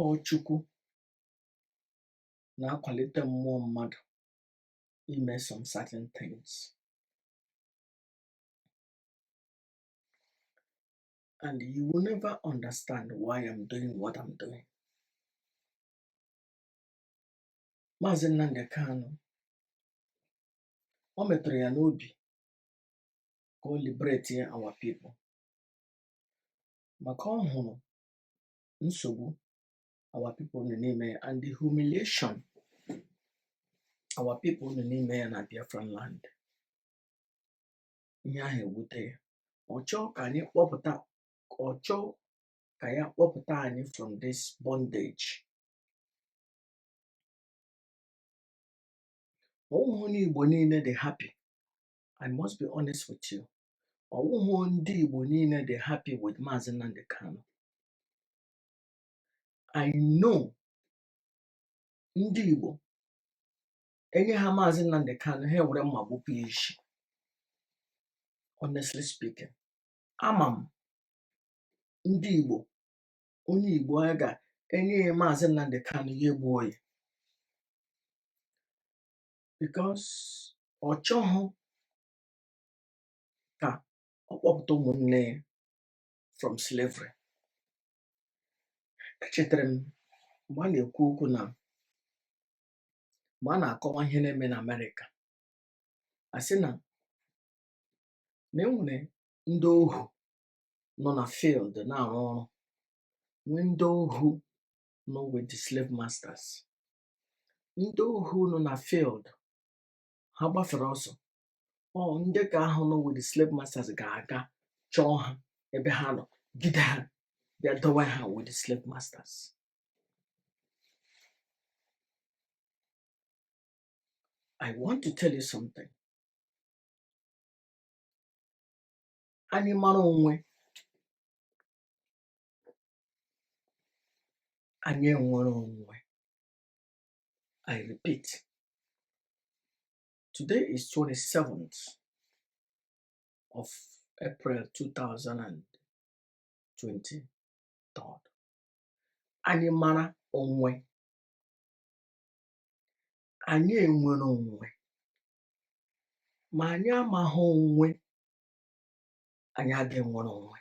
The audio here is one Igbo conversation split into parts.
ọ Chukwu na-akwalite mmụọ mmadụ ime some certain things and you will never understand why I'm doing what I'm doing. Maazị Nnamdi Kanu ọ metụrụ ya n'obi ka o liberate our people maka ọ hụrụ nsogbu our people nọ n'ime ya and the humiliation our people nọ n'ime ya na Biafran land ihe ahụ ewute ya ọ chọọ ka anyị kpọpụta ọ chọọ ka ya kpọpụta anyị from this bondage ọ wụghị ndị Igbo niile dị happy I must be honest with you ọ wụghị ndị Igbo niile dị happy with Maazị Nnamdi Kanu I know ndị Igbo e nye ha Maazị Nnamdi Kanu ha ewere mma gbupụ ya isi honestly speaking ama m ndị Igbo onye Igbo a ga-enye ya Maazị Nnamdi Kanu ya egbuo ya because ọ chọghị ka ọ kpọpụta ụmụnne ya from slavery echetara m mgbe a na-ekwu okwu na mgbe a na-akọwa ihe na-eme na amerịka a sị na na e nwere ndị ohu nọ na field na-arụ ọrụ nwee ndị ohu nọ with the slave masters ndị ohu nọ na field ha gbafere ọsọ ọ ndị ka ahụ nọ with the slave masters ga-aga chọọ ha ebe ha nọ gide ha bịa dowe ha with the slave masters I want to tell you something. Anyị mara onwe anyị enwere onwe. I repeat, Today is 27th of April 2023. Anyị mara onwe, anyị enwere onwe, ma anyị amaghị onwe, anyị agaghị enwere onwe.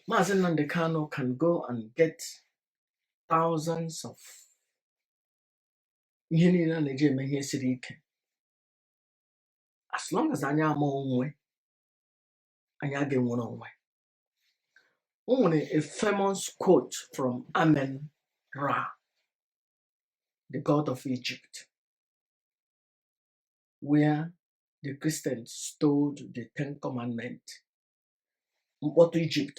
Maazị Nnamdi Kanu can go and get thousands of ihe niile a na-eji eme ihe siri ike as long as anyị ama onwe anyị aga-enwere onwe o nwere a famous quote from amen ra the god of egypt where the christians stole the ten commandments mkpọtụ egypt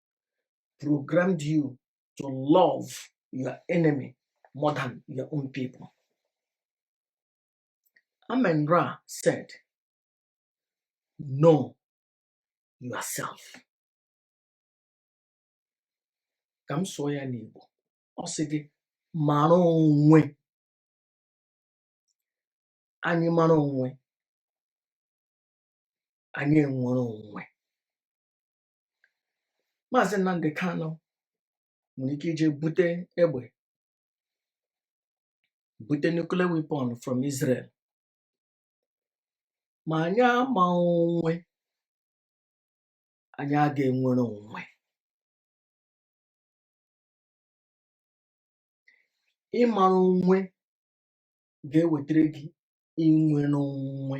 programmed you to love your enemy more than your own people. Amen Ra said, Know yourself. Ka m sụọ ya n'Igbo, ọ sị gị mara onwe anyị mara onwe anyị enwere onwe maazị Nnamdi Kanu nwere ike ije bute egbe bute nuclear weapon from Israel ma anyị ama onwe anyị aga-enwere onwe ịmara onwe ga-ewetara gị inwere onwe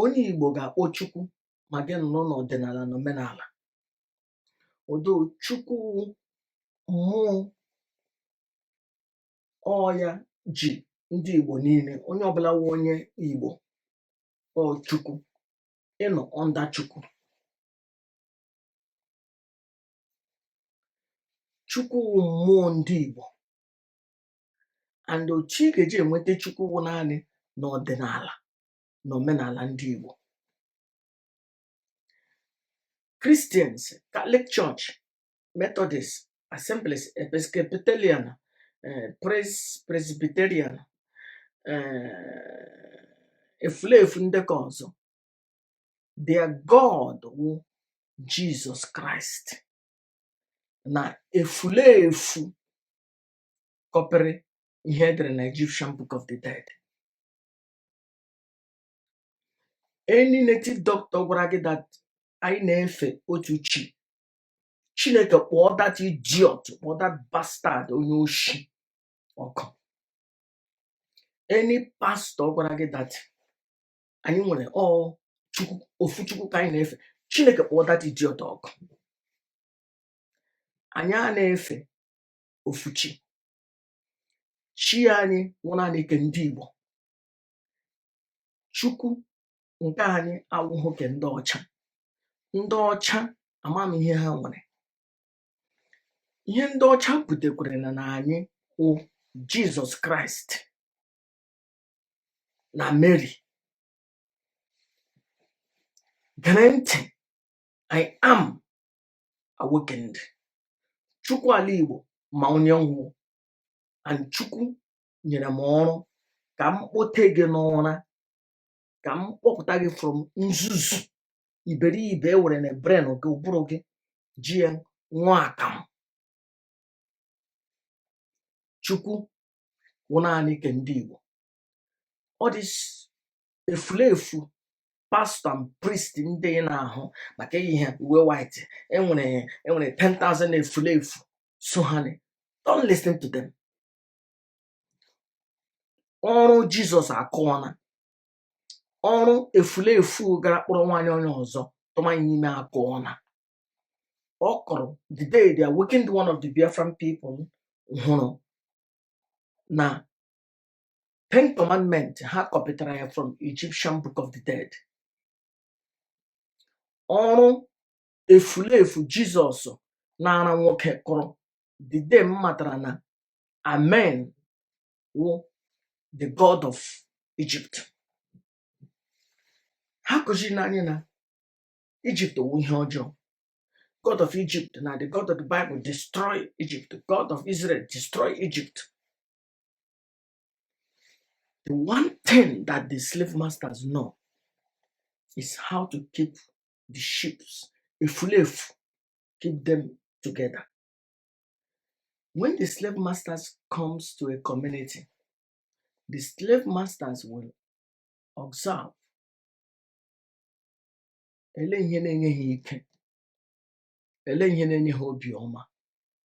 onye Igbo ga-akpọ Chukwu ma gị nọrọ n'ọdịnala na omenala odo Chukwu wụ mmụọ ọ ya ji ndị Igbo niile onye ọbụla wụ onye Igbo ọ Chukwu ị nọ under Chukwu Chukwu wụ mmụọ ndị Igbo and otu ị ga-eji enweta Chukwu wụ naanị n'ọdịnala na omenala ndị Igbo Christians Catholic Church Methodist Assemblies Episcopalian eh, Presbyterian eh, efulefu ndị ke ọzọ their God wụ Jizọs Kraịst na efulefu kọpịrị ihe e dere na Egyptian Book of the Dead any native doctor gwara gị that anyị na-efe otu chi chineke kpọọ that idiot kpọọ that bastard onye oshi ọkụ any pastor gwara gị that anyị nwere ọ chukwu ofu chukwu ka anyị na-efe chineke kpọọ that idiot ọkụ anyị ana-efe ofu chi chi anyị wụ naanị nke ndị Igbo chukwu nke anyị awụghị nke ndị ọcha ndị ọcha amam ihe ha nwere ihe ndị ọcha butekwere nna nna anyị wụ Jizọs Kraịst na Meri gere ntị I am awakened chukwu ala igbo ma onye m wụ and chukwu nyere m ọrụ ka m kpote gị n'ụra ka m kpọpụta gị from nzuzu iberibe e werena brain gị ụbụrụ gị ji ya ṅụọ akamụ chukwu wụ naanị ke ndị igbo all this efulefu pastor and priest ndị ị na-ahụ maka eyi ha uwe white enwere enwere 10,000 efulefu so ha na- don't listen to them ọrụ jizọs akụọla ọrụ efulefu gara kpọrọ nwaanyị onye ọzọ tụma ya ime akụọla ọ kụrụ the day the awakened one of the biafran people hụrụ na Ten Commandment ha kọpịtara ya from Egyptian Book of the Dead. Ọrụ efulefu Jizọs na-ara nwoke kụrụ the day m matara na Amen wụ the God of Egypt. Ha kụziri n'anyị na Egypt wụ ihe ọjọọ. God of Egypt na the God of the Bible destroy Egypt. God of Israel destroy Egypt. The one thing that the slave masters know is how to keep the ships, a slave, keep them together. When the slave masters comes to a community, the slave masters will observe ele ihe na-enye ha ike ele ihe na-enye ha obiọma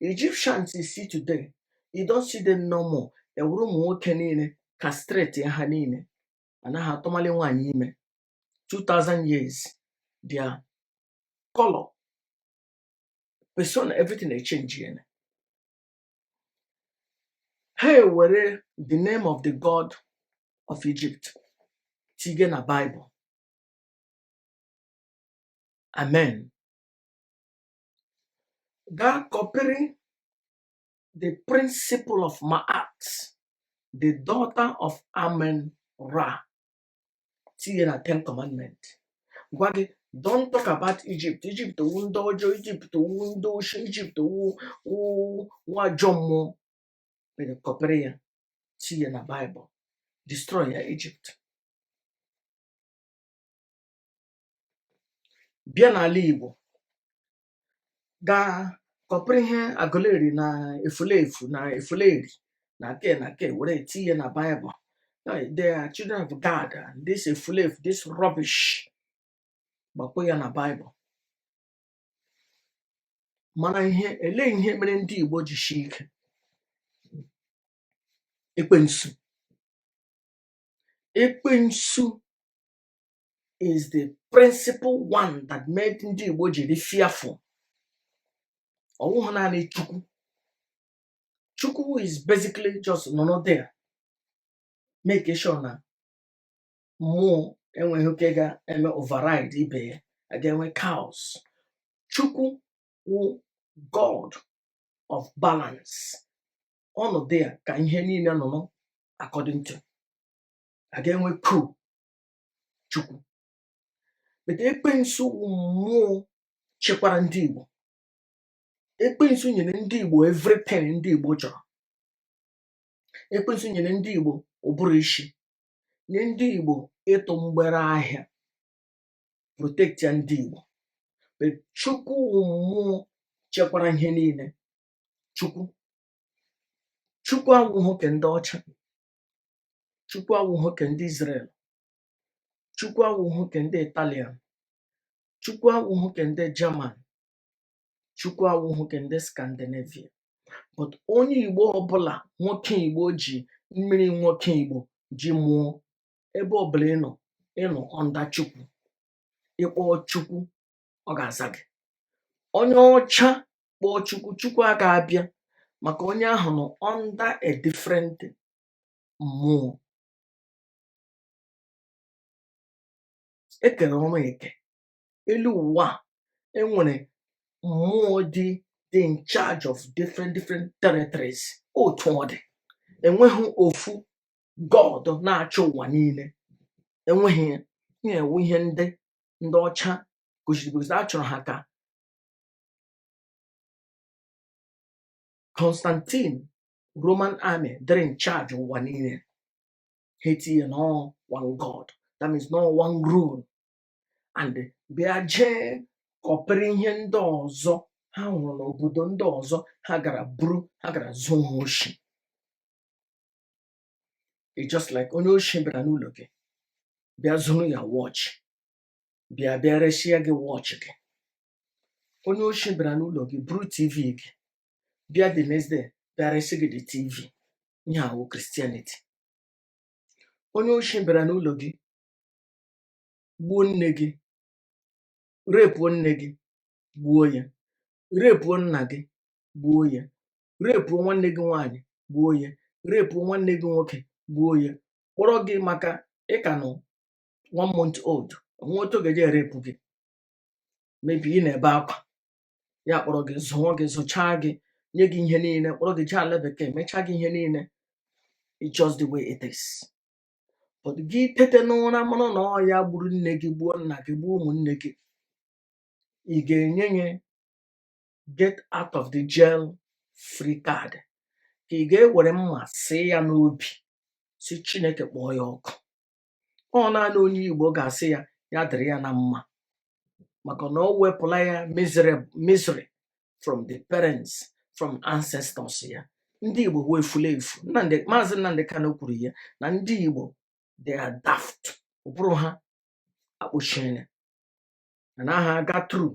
Egyptians you see today you don't see them no more ewuru ụmụ nwoke niile castrate ha niile anaghị atụmali nwaanyị ime 2000 years their color persona everything echenjiela ha ewere the name of the god of egypt tige na bible amen gaa kọpịrị the principle of Ma'at, the daughter of Amen Ra, tinye na Ten Commandment. Gwa gị, don't talk about Egypt. Egypt wụ ndị ọjọọ, Egypt wụ ndị oshi, Egypt wụ wụ wụ ajọ mmụọ. But e kọpịrị ya, tinye na Bible, destroy ya Egypt. bịa n'ala Igbo gaa kọpụrụ ihe Aguleri na efulefu na efuleri na ke na ke were tinye na Bible they are children of God and this efulefu this rubbish gbakpọ ya na Bible mana ihe ele ihe mere ndị Igbo ji shi ike ekwensu ekwensu is the principal one that made ndị Igbo ji dị fearful ọ wụhụ naanị Chukwu Chukwu is basically just nọrọ there make sure na mmụọ enwehụ ke ga-eme override ibe ya a ga-enwe chaos Chukwu wụ God of balance ọ nọ there ka ihe niile nọ nọ according to a ga-enwe ku chukwu but ekwensu wụ mmụọ chekwara ndị igbo ekwensu nyere ndị igbo everything ndị igbo chọrọ ekwensu nyere ndị igbo ụbụrụ ishi nye ndị igbo ịtụ mgbere ahịa protectia ndị igbo But chukwu wụ mmụọ chekwara ihe niile chukwu chukwu awụhụ ke ndị ọcha chukwu awụhụ ke ndị Israel chukwu awụhụ ke ndị Italian chukwu awụhụ ke ndị German chukwu awụhụ ke ndị Scandinavia but onye Igbo ọbụla nwoke Igbo ji mmiri nwoke Igbo ji mụọ ebe ọbụla ị nọ ị nọ under chukwu ị kpọọ chukwu ọ ga-aza gị onye ọcha kpọọ chukwu chukwu aga abịa maka onye ahụ nọ under a different mmụọ e kere ọrụ eke elu ụwa a, e nwere mmụọ dị dị in charge of different different territories otu ọ dị enweghị ofu god na-achị ụwa niile enweghị ya ihe a wụ ihe ndị ndị ọcha gosiri gosi a chọrọ ha ka Constantine Roman army dịrị in charge ụwa niile ha etinye na ọ one God that means na ọ one rule and bịa jee kọpịrị ihe ndị ọzọ ha hụrụ n'obodo ndị ọzọ ha gara buru ha gara zuo ha oshi it's just like onye oshi bịara n'ụlọ gị bịa zuru ya watch bịa bịa resịa gị watch gị onye oshi bịara n'ụlọ gị buru tv gị bịa the next day bịa resị gị the tv ihe a wụ Christianity onye oshi bịara n'ụlọ gị gbuo nne gị repuo nne gị gbuo ya repuo nna gị gbuo ya repuo nwanne gị nwaanyị gbuo ya repuo nwanne gị nwoke gbuo ya kpọrọ gị maka ị ka nọ one month old o nweghị otu ga-eji erepụ gị maybe ị na-ebe akwa ya kpọrọ gị zụọ gị zụchaa gị nye gị ihe niile kpọrọ gị jee ala bekee mechaa gị ihe niile it's just the way it is but gị tete n'ụra mara na ọ ya gburu nne gị gbuo nna gị gbuo ụmụnne gị ị ga-enye ya get out of the jail free card ka ị ga-ewere mma sụọ ya n'obi sị Chineke kpọọ ya ọkụ ọ naanị onye Igbo ga-asị ya ya dịrị ya na mma maka na ọ wepụla ya miserab- misery from the parents from ancestors ya ndị Igbo wee furu efu Nnamdi Maazị Nnamdi Kanu kwuru ya na ndị Igbo they are daft ụbụrụ ha akpọchiela anaghị aga through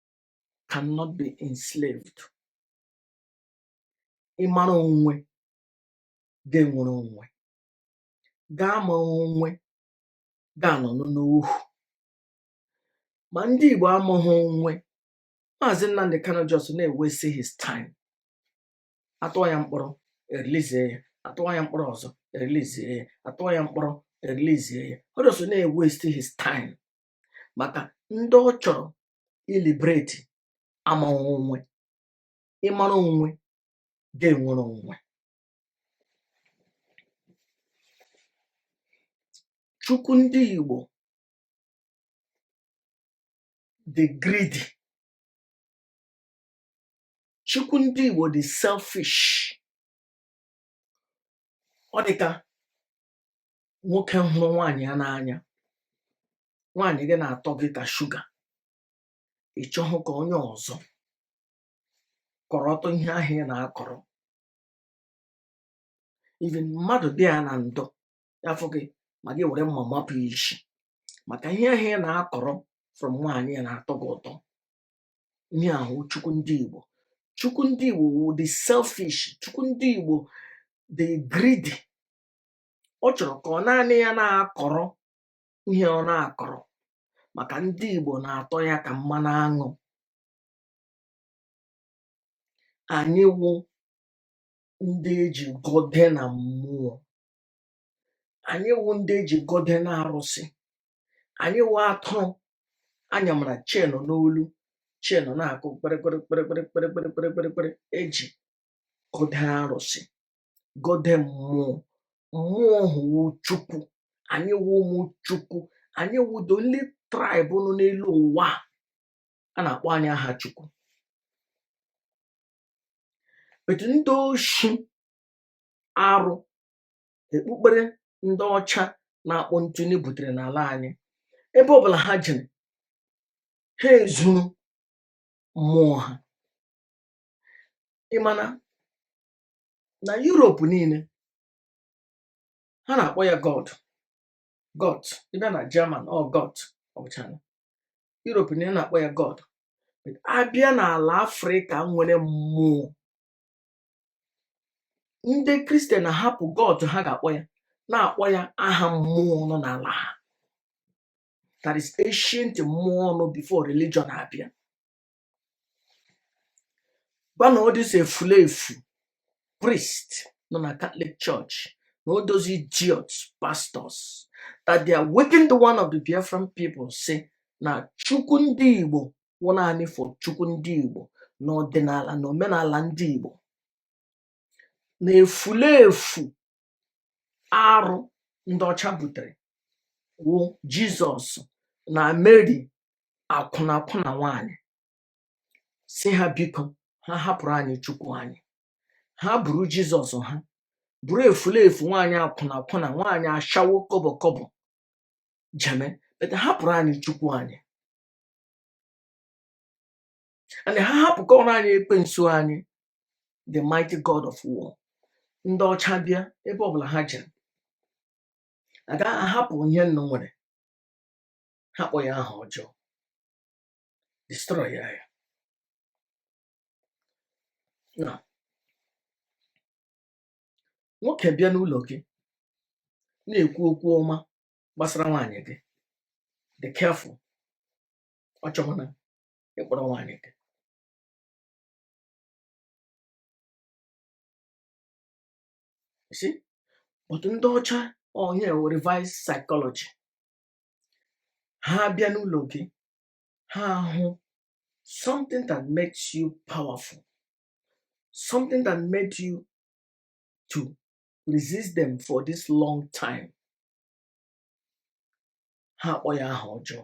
cannot be enslaved ị mara onwe ga-enwere onwe gị amaghị onwe ga-anọ n'ohu ma ndị Igbo amaghị onwe Maazị Nnamdi Kanu just na-ewesti his time atụọ ya mkpọrọ erilizie ya atụọ ya mkpọrọ ọzọ erilizie ya atụọ ya mkpọrọ erilizie ya ọ just na-ewesti his time maka ndị ọ chọrọ ịliberate amaghị onwe ị mara onwe ga-enwere onwe chukwu ndị igbo dị greedy chukwu ndị igbo dị selfish ọ dị ka nwoke hụrụ nwaanyị ya n'anya nwaanyị gị na-atọ gị ka sugar ị chọghị ka onye ọzọ kọrọtụ ihe ahụ ị na-akọrọ even mmadụ dị ya na ndụ ya fụ gị ma gị were mma mapụ ya isi maka ihe ahụ ị na-akọrọ from nwaanyị ya na-atọ gị ụtọ ihe a wụ chukwu ndị igbo chukwu ndị igbo dị selfish chukwu ndị igbo dị greedy ọ chọrọ ka ọ naanị ya na-akọrọ ihe ọ na-akọrọ maka ndị Igbo na-atọ ya ka mmanụ aṅụ anyị wụ ndị eji gọde na mmụọ anyị wụ ndị eji gọde na arụsị anyị wụ atụrụ a nyamara chain n'olu chain na-akụ kpịrịkpịrị kpịrịkpịrị kpịrịkpịrị kpịrịkpịrị eji gọde arụsị gọde mmụọ mmụọ ahụ wụ chukwu anyị wụ ụmụ chukwu anyị wụ the only tribe nọ n'elu ụwa a na-akpọ anyị aha chukwu but ndị oshi arụ ekpukpere ndị ọcha na-akpọ ntụnye butere n'ala anyị ebe ọbụla ha jere ha ezuru mmụọ ha ị ma na na Europe niile ha na-akpọ ya God God ị bịa na German ọ Gott ọ bụcha na Europe niile a na-akpọ ya God But a bịa n'ala Afrịka nwere mmụọ ndị Kristian ahapụ God ha ga-akpọ ya na-akpọ ya aha mmụọ nọ n'ala ha that is ancient mmụọ nọ before religion abịa gwa na all these efulefu priest nọ na Catholic Church na all those idiots pastors that they are waking the one of the Biafran people sị na chukwu ndị Igbo wụ naanị for chukwu ndị Igbo na ọdịnala na omenala ndị Igbo na efulefu arụ ndị ọcha butere wụ jizọs na meri akwụnakwụna nwanyị sị ha biko ha hapụrụ anyị chukwu anyị ha buru jizọs ha buru efulefu nwaanyị akwụnakwụna nwaanyị ashawo kobo kobo jeme but hapụrụ anyị chukwu anyị and ha hapụkọrọ anyị ekwensu anyị the mighty god of war ndị ọcha bịa ebe ọbụla ha jere agaghị ahapụ ihe unu nwere ha kpọ ya aha ọjọọ destroy ya nwoke bịa n'ụlọ gị na-ekwu okwu ọma gbasara nwaanyị gị dị careful ọ chọghị na ịkpọrọ nwaanyị nke si otu ndị ọcha onye wụ reverse psychology ha abịa n'ụlọ gị ha ahụ something that makes you powerful something that made you to resist them for this long time ha akpọ ya aha ọjọọ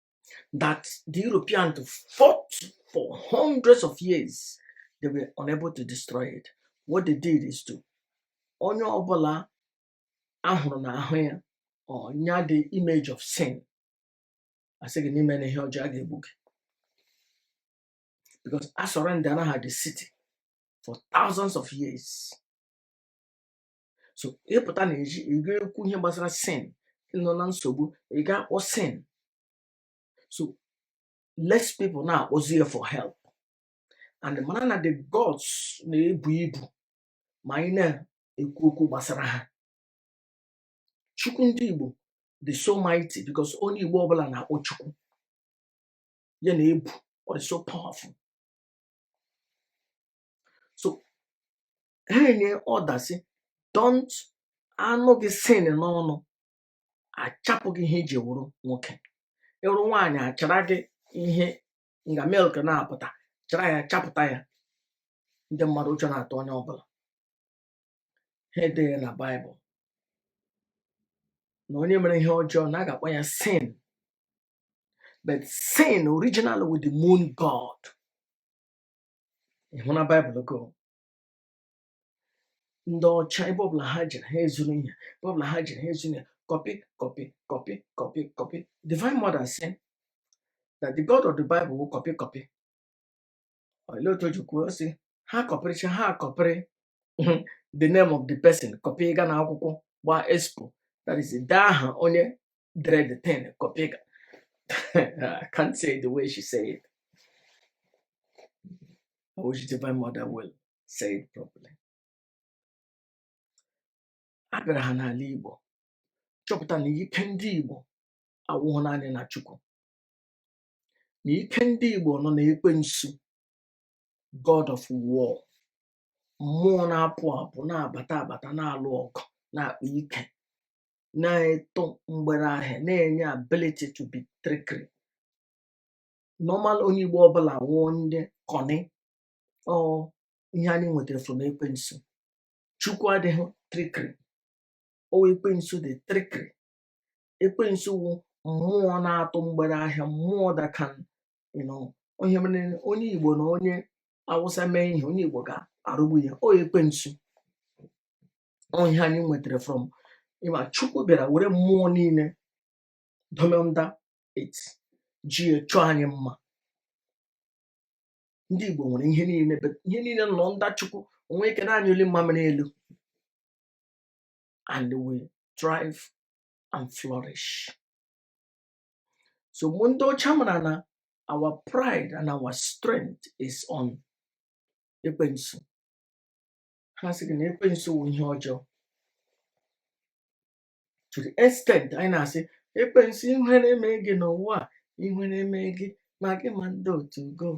that the Europeans fought for hundreds of years. They were unable to destroy it. What they did is to onye ọbụla a hụrụ na ahụ ya ọ nya the image of sin a sị gị na i mena ihe ọjọọ a ga-egbu gị because a surrendera ha the city for thousands of years so ị pụta na ezi ị ga-ekwu ihe gbasara sin ị nọ na nsogbu ị ga-akpọ sin so less people na-akpọzi ya for help and mara na the gods na-ebu ibu ma anyị na-ekwu okwu gbasara ha chukwu ndị igbo dị so mighty because onye igbo ọbụla na-akpọ chukwu ya na-ebu ọ dị so powerful so ha enye order sị don't a nụ gị sin n'ọnụ a chapụ gị ihe i ji wụrụ nwoke ị wụrụ nwaanyị a chara gị ihe nga milk na-apụta chara ya chapụta ya ndị mmadụ ụjọ na-atụ onye ọbụla ha edee na baịbụl na onye mere ihe ọjọọ na a ga-akpọ ya sin but sin originally wụ the moon god ị hụ na baịbụl go ndị ọcha ebe ọbụla ha jere ha ezuru ihe ebe ọbụla ha jere ha ezuru ihe kọpị kọpị kọpị kọpị kọpị divine mother sị that the god of the bible wụ kọpị kọpị olee otu o ji kwuo sị ha kọpịrịcha ha kọpịrị ma the name of the person kọpị ị ga na akwụkwọ gbaa expo that is i dee aha onye dere the thing kopịga I can't say the way she said it I wish divine mother will say it properly abịara ha n'ala Igbo chọpụta na ike ndị Igbo awụhụ naanị na Chukwu na ike ndị Igbo nọ na ekwensu God of war mmụọ na-apụ apụ na-abata abata na-alụ ọgụ na-akpa ike na-atụ mgbere ahịa na-enye ability to be trickery normal onye Igbo ọbụla wụọ ndị cunny ọ ihe anyị nwetara from ekwensu Chukwu adịghị trickery ọ ekwensu dị trickery ekwensu wụ mmụọ na-atụ mgbere ahịa mmụọ that can you know ọ ihe mere onye Igbo na onye Awụsa mee ihe onye Igbo ga-aghọgbu ya ọ ekwensu ihe anyị nwetara from ịma chukwu bịara were mmụọ niile dum under it ji chọọ anyị mma ndị igbo nwere ihe niile but ihe niile nọ under chukwu o nwee ike na-anyụli mmamịrị elu and we thrive and flourish so mgbe ndị ọcha mara na our pride and our strength is on ekwensu ha sị gị na ekwensu wụ ihe ọjọọ to the extent anyị na-asị ekwensu ihere emee gị n'ụwa a ihere emee gị ma gị ma ndị otu gị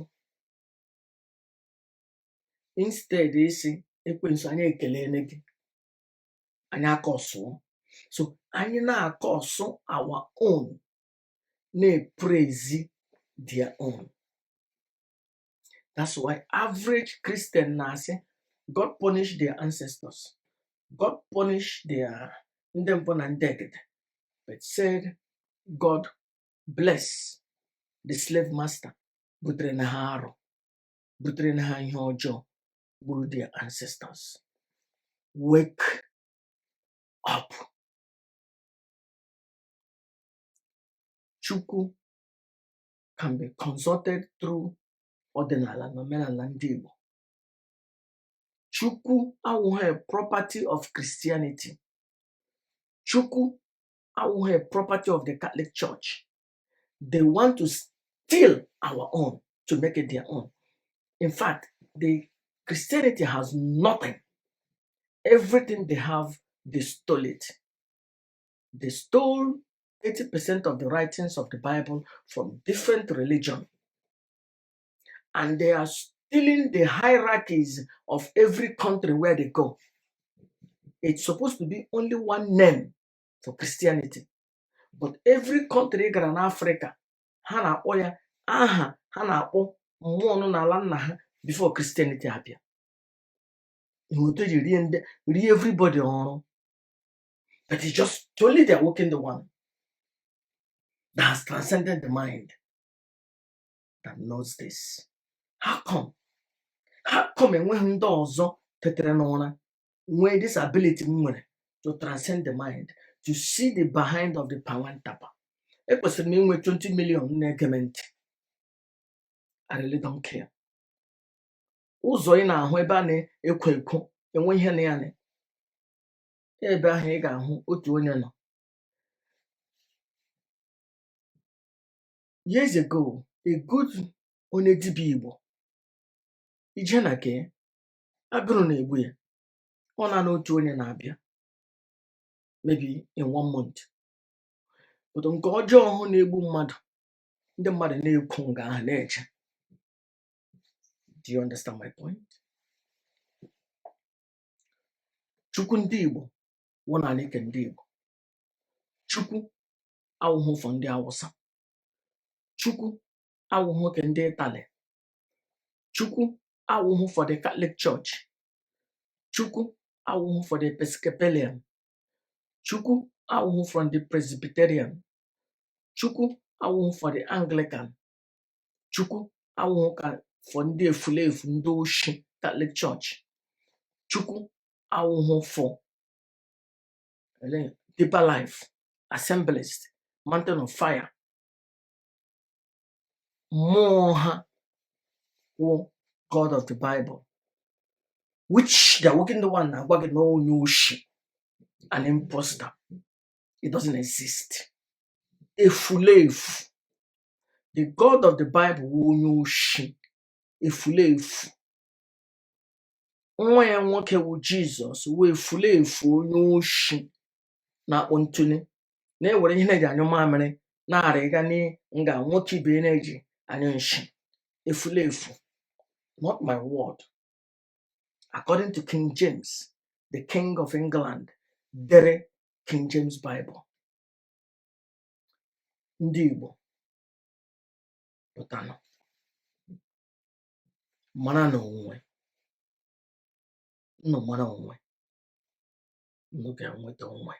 instead ịsị ekwensu anyị ekelele gị anyị akọsụọ so anyị na-acurse our own na-epraise their own That's why average Christian na-asị God punish their ancestors. God punish their ndị mbụ na ndị egede. But said God bless the slave master butere nna ha arụ butere nna ha ihe ọjọọ gburu their ancestors. Wake up. Chukwu can be consulted through ọdịnala na omenala ndị Igbo. Chukwu awụghị a property of Christianity. Chukwu awụghị a property of the Catholic Church. They want to steal our own to make it their own. In fact, the Christianity has nothing. Everything they have, they stole it. they stole 80% of the writings of the Bible from different religion and they are stealing the hierarchies of every country where they go. It's supposed to be only one name for Christianity. But every country ị gara na Africa, ha na-akpọ ya aha ha na-akpọ mmụọ nọ n'ala nna ha before Christianity abịa. Ihe otu e ji rie ndị rie everybody ọrụ. that is just only the awakened one that has transcended the mind that knows this. How come? How come enweghị ndị ọzọ tetere n'ụra nwee this ability m nwere to transcend the mind to see the behind of the pawantapa? Ekwesịrị m inwe 20 million na-ege m ntị. I really don't care. Ụzọ ị na-ahụ ebe a na-ekwo ekwo enwe ihe na ya na ebe ahụ ị ga-ahụ otu onye nọ years ago a good onye dibịa igbo ị je na ke ya agụrụ na-egbu ya ọ naanị otu onye na-abịa maybe in one month but nke ọjọọ ahụ na-egbu mmadụ ndị mmadụ na-ekwo nga ahụ na-eje do you understand my point chukwu ndị igbo wụ naanị ke ndị igbo chukwu awụhụ for ndị awụsa chukwu awụhụ ke ndị ịtali chukwu awụhụ for the katọlik chọọchị chukwu awụhụ for the episcopalian chukwu awụhụ for ndị presbyterian chukwu awụhụ for the anglican Chukwu awụhụkwa for ndị efulefu ndị oshi Katọlik chọọchị Chukwu awụhụ for ndị Deeper Life Assemblies Mountain of Fire mmụọ ha wụ God of the Bible which the working the one na-agwa gị na ọ wụ onye oshi an imposter it doesn't exist efulefu the god of the bible wụ onye oshi efulefu nwa ya nwoke wụ jizọs wụ efulefu onye oshi na-akpọ ntụli na-ewere ihe na-eji anyụ mamịrị na-arịga na nga nwoke ibe ya na-eji anyụ nshi efulefu not my word according to king james the king of england dere king james bible ndị Igbo pụtanụ maranụ onwe unu mara onwe unu ga-enweta onwe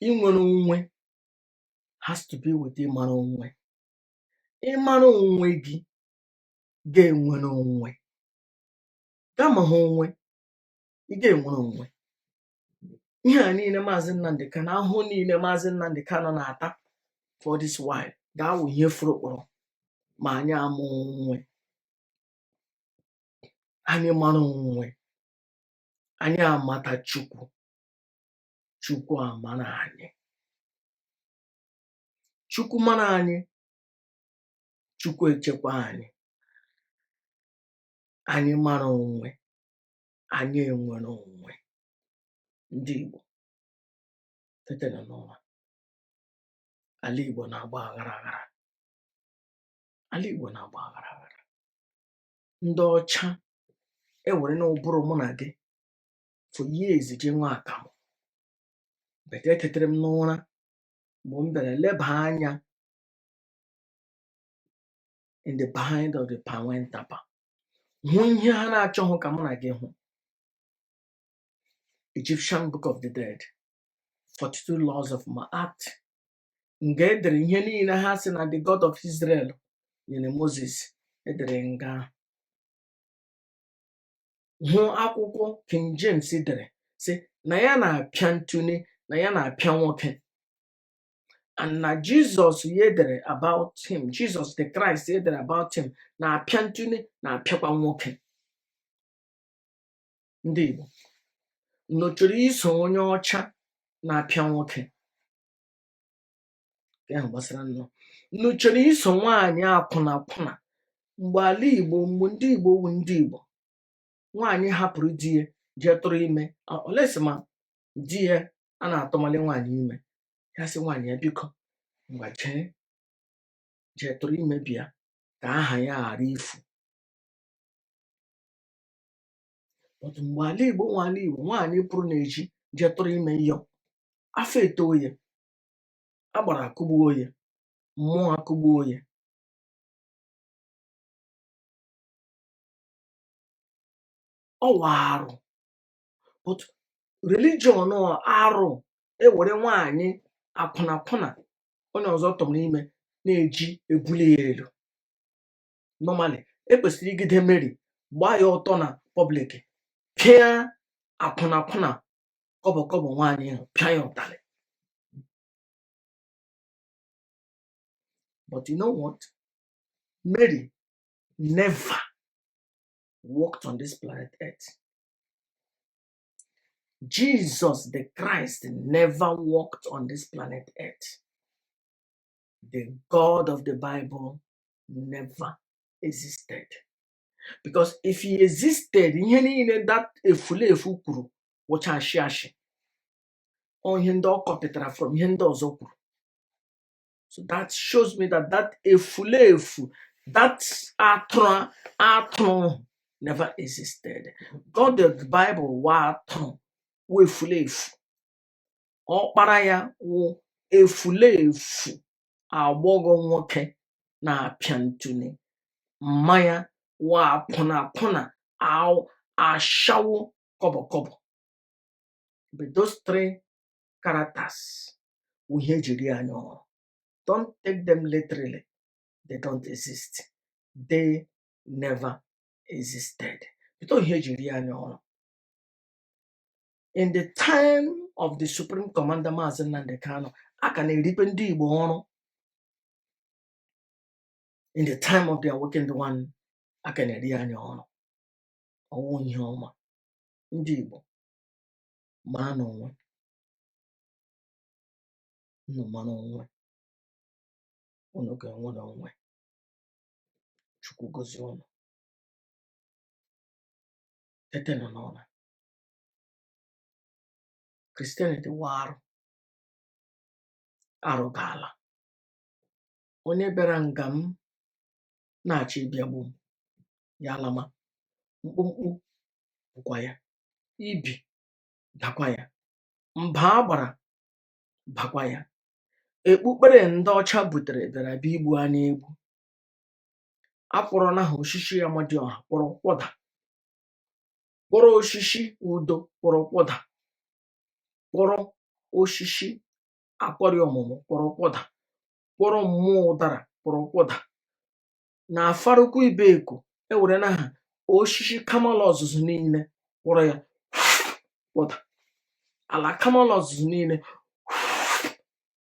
inwere onwe has to be with ịmara onwe ị mara onwe gị ị ga-enwere onwe gị amahụ onwe ị ga-enwere onwe ihe a niile maazị nnamdị kanu ahụhụ niile maazị nnamdị kanu na-ata for this while ga-awụ ihe furu ọkpọrọ ma anyị amahụ onwe anyị mara onwe anyị amata chukwu chukwu amara anyị chukwu mara anyị chukwu echekwa anyị anyị mara onwe anyị enwere onwe ndị Igbo tetenụ n'ụra ala Igbo na-agba aghara aghara ala Igbo na-agba aghara aghara ndị ọcha ewerena ụbụrụ mụ na gị for years ji ṅụa akamụ but etetere m n'ụra mgbe m bịara leba anya in the behind of the pawentapa hụ ihe ha na-achọghị ka mụ na gị hụ Egyptian Book of the Dead 42 Laws of Ma'at nga edere ihe niile ha si na the God of Israel nyere Moses edere nga ahụ. hụ akwụkwọ King James dere sị na ya na-apịa n'otune na ya na-apịa nwoke and na Jesus ya dere about him Jesus the Christ ya dere about him na-apịa n'otune na-apịakwa nwoke ndị igbo unu chọrọ iso onye ọcha na-apịa nwoke nke ahụ gbasara unu unu chọrọ iso nwaanyị akwụna akwụna mgbe ala igbo mgbe ndị igbo wu ndị igbo nwaanyị hapụrụ di ya jee tụrụ ime unless ma di ya a na-atụmali nwaanyị ime ya sị nwaanyị ya biko ngwa jee jee tụrụ ime bịa ka aha ya ghara ifu but mgbe ala igbo wu ala igbo nwaanyị pụrụ n'ezi jee tụrụ ime yọ afọ etoo ya agbara akụgbuo ya mmụọ akụgbuo ya ọ wụ arụ but religion ọ arụ ewere nwaanyị akwụnakwụna onye ọzọ tụmara ime n'ezi ebuli ya elu normally ekwesịrị ijide Mary gbaa ya ọtọ na public pịa akwụnakwụna kọbọ kọbọ nwaanyị ahụ pịa ya ụtalị but you know what Mary never walked on this planet earth Jesus the Christ never walked on this planet earth. The God of the Bible never existed. Because if he existed, ihe niile that efulefu kwuru wụcha ashị ashị. Ọ ihe ndị ọ kọpịtara from ihe ndị ọzọ kwuru. So that shows me that that efulefu, that atụrụ, atụrụ never existed. God the Bible wụ atụrụ, wụ efulefu. Ọkpara ya wụ efulefu agbọghọ nwoke na-apịa ntụli. Mma ya wụ akwụna akwụna aw- ashawo kọbọ kọbọ. But those three characters wụ ihe eji eri anyị ọrụ don't take them literally they don't exist they never existed but ihe eji eri anyị ọrụ in the time of the supreme commander maazị Nnamdi Kanu a ka na-eribe ndị Igbo ọrụ in the time of the awakened one a ka na-eri anyị ọrụ ọ wụ ihe ọma ndị Igbo maranụ onwe unu mara onwe unu ga-enwe n'onwe chukwu gozie unu tetena n'ụra Christianity wụ arụ arụ ga-ala onye bịara nga m na-achọ ịbịa igbu m ya alama mkpumkpu bụkwa ya ibi dakwa ya mba agbara bakwa ya ekpukpere ndị ọcha butere bịara bịa igbu anyị egbu akpọrọla ha oshishi Amadioha kpọrọ kwọda kpọrọ oshishi udo kpọrọ kwọda kpọrọ oshishi akwari ọmụmụ kpọrọ kwọda kpọrọ mmụọ ụdara kpọrọ kwọda na Afaraukwu Ibeku ewerena ha oshishi Kamalu Ozuzu niile kpọrọ ya kpọta ala Kamalu Ozuzu niile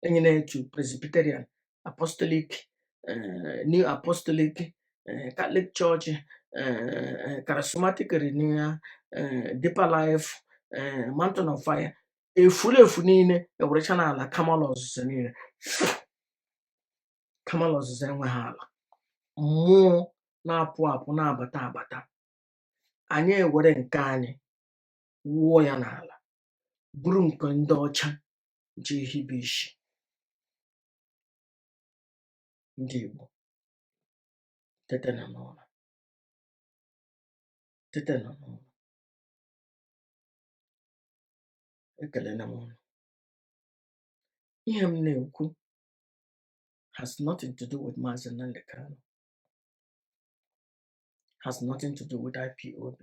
enye na-etu presbyterian apostolic eh, new apostolic eh, catholic church eh, charismatic renewal eh, deeper life eh, mountain of fire efuru efu niile ewerechana ala Kamalu Ozuzu niile Kamalu Ozuzu enweghị ala mmụọ na-apụ apụ na-abata abata anyị ewere nke anyị wụọ ya n'ala buru nke ndị ọcha jee hibe ishi ndị Igbo tetena n'ụra tetena n'ụra ekelele m ụnụ ihe m na-ekwu has nothing to do with Mazi Nnamdi Kanu, has nothing to do with IPOB.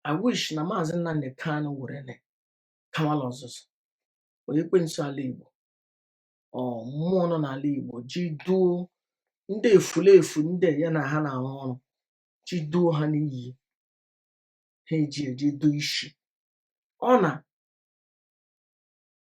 I wish na Mazi Nnamdi Kanu were na Kamalụ Ọzụzụ or Ekwensu ala Igbo or mmụọ nọ n'ala Igbo ji duo ndị efulefu ndị ya na ha na-arụ ọrụ ji duo ha n'iyi ha eji eji duo isi ọ na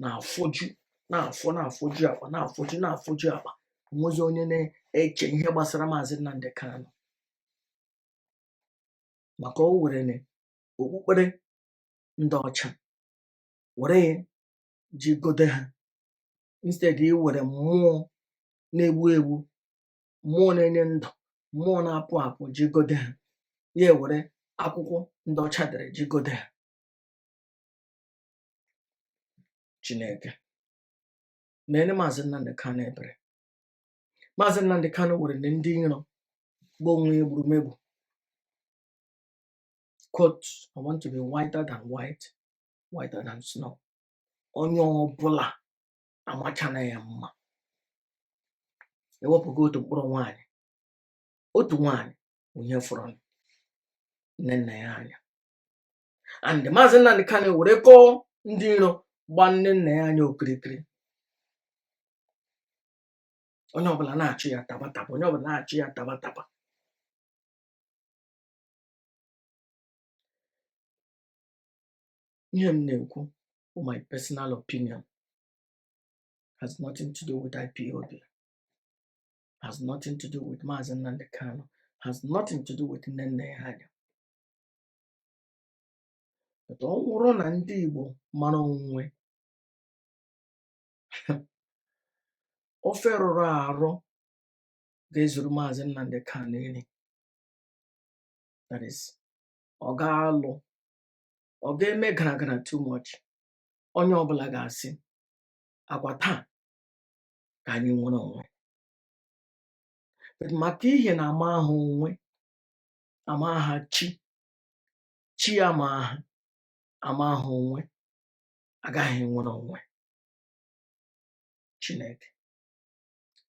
na-afọju na-afọ na-afọju akpa na-afọju na-afọju akpa o nwezi onye na-eche ihe gbasara maazị Nnamdi Kanu maka o were na okpukpere ndị ọcha were ya ji gode ha instead i were mmụọ na-egbu egbu mmụọ na-enye ndụ mmụọ na-apụ apụ ji gode ha ya ewere akwụkwọ ndị ọcha dere ji gode ha Chineke meere maazị Nnamdi Kanu ebere maazị Nnamdi Kanu were na ndị iro gba onwe ya egburumegbu quote i want to be whiter than white whiter than snow onye ọbụla amachana ya mma ewepụga otu mkpụrụ nwaanyị otu nwaanyị onye fọrọ Nnennaya Anya and maazị Nnamdi Kanu werekwuo ndị iro gba Nnennaya Anya okirikiri onye ọbụla na-achụ ya tabataba onye ọbụla na-achụ ya tabataba ihe m na-ekwu bụ my personal opinion has nothing to do with IPOB has nothing to do with Maazị Nnamdi Kanu has nothing to do with Nnennaya Anya but ọ bụrụ na ndị Igbo mara onwe ofe rụrụ arụ ga-ezuru maazị Nnamdi Kanu nri that is ọ ga-alụ ọ ga-eme gara gara too much onye ọbụla ga-asị ngwa taa ka anyị nwere onwe but maka ihi na amahụ onwe amaha chi chi ya amaha amahụ onwe agaghị enwere onwe chineke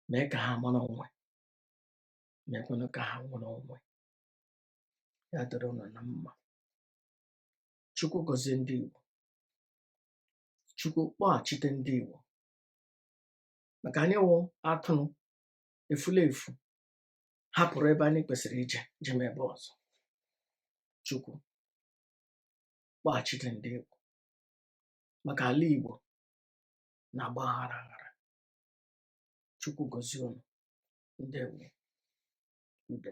mee ka ha mara onwe meekwanụ ka ha nwere onwe ya dịrị ụnụ na mma chukwu gọzie ndị igbo chukwu kpọghachite ndị igbo maka anyị wụ atụrụ efula efu hapụrụ ebe anyị kwesịrị ije jee n'ebe ọzọ chukwu kpọghachite ndị igbo maka ala igbo na-agba aghara aghara chukwu gozie unu ndewo udo